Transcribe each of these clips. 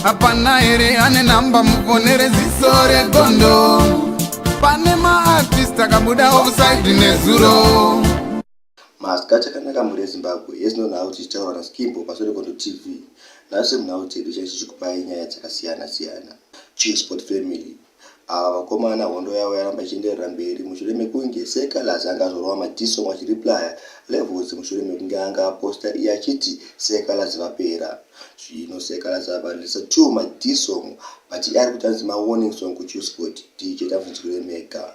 hapana here ane namba mufonere ziso regondo pane maartist akabuda offside nezuro maska chakanaka mhuri yezimbabwe yes no nhau tichitaura naskimbo pasure kondo tv nhasi munhau dzedu chaichichikupai nyaya dzakasiyana siyana cheers sport family Ava vakomana hondo yavo yaramba ichienderera mberi mushure mekunge Sir Calaz anga azorova madisong achireplyer Levels mushure mekunge anga aposter iye achiti Sir Calaz vapera. Zvino Sir Calaz ava releaser two madisong but iye arikuti anzi mawarning song kuChuscot. DJ Tamz nzwirei mega.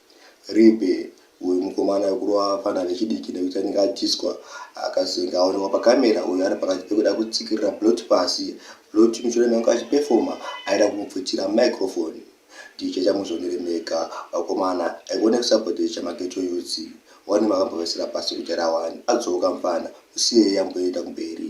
Rip uyu mukomana wekurova vafana vechidiki nekuti anenge adyiswa akazenge aonekwa pacamera uyu ari pakati pekuda kutsikirira Blot pasi Blot mushure mekunge achiperformer aida kumubvutira microphone DJ chamuzvionere mega vakomana I want a support DJ maghetto youths wani makambovesera pasi kujara wani adzoka mfana musiyei amboenda kumberi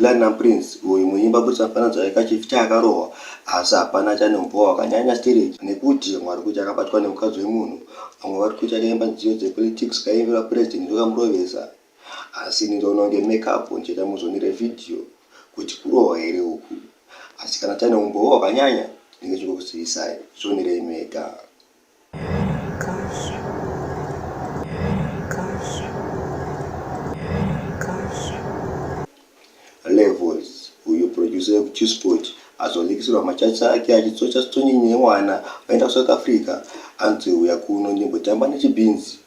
Platinum Prince uyu muimba kuti afananidza aika chief chaakarohwa asi hapana achane umboo wakanyanya stereki nekuti vamwe vari kuti akabatwa nemukadzi wemunhu vamwe vari kuti akaimba nziyo dzepolitics kaimbirwa president ndokamurovesa asi ini ndoona kunge make up ndichaita muzonire video kuti kurohwa here uku asi kana achane umboo wakanyanya ndinge chikukuzivisai zvionirei mega. chisport azonikisirwa machachi ake achitsocha stonyi newana aenda kusouth africa anzi uya kuno ndimbotamba nechibhinzi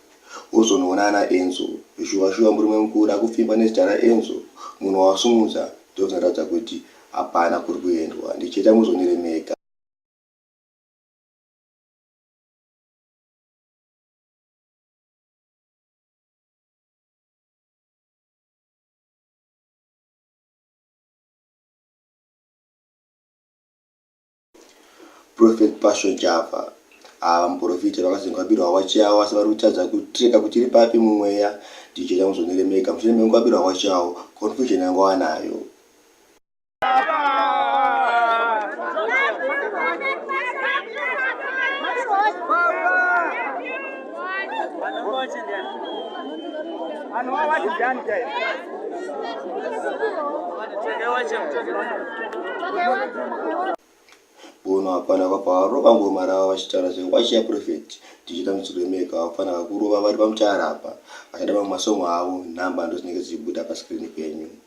ozonoona ana enzo shuwa shuwa murume mukuru akupfimba nezita raenzo munhu wasumudza ndozvinoratidza kuti hapana kuri kuendwa ndicheta muzoniremeka prophet passion java ava muprofita vakazengwabirwa hawachi avo asi vari kutadza kutreka kuti iri papi mumweya ndichida kuzoneremeka mushure mekunkwabirwa hawachi avo confusion yangu anayo bono hapana vapavarova ngoma rava vachitaura zve wachiya profeti tichiita mitsiko yemeka hapana vakurova vari pamutara apa vachada mamwe masongo avo nhamba ndodzinenge dzichibuda paskrini penyu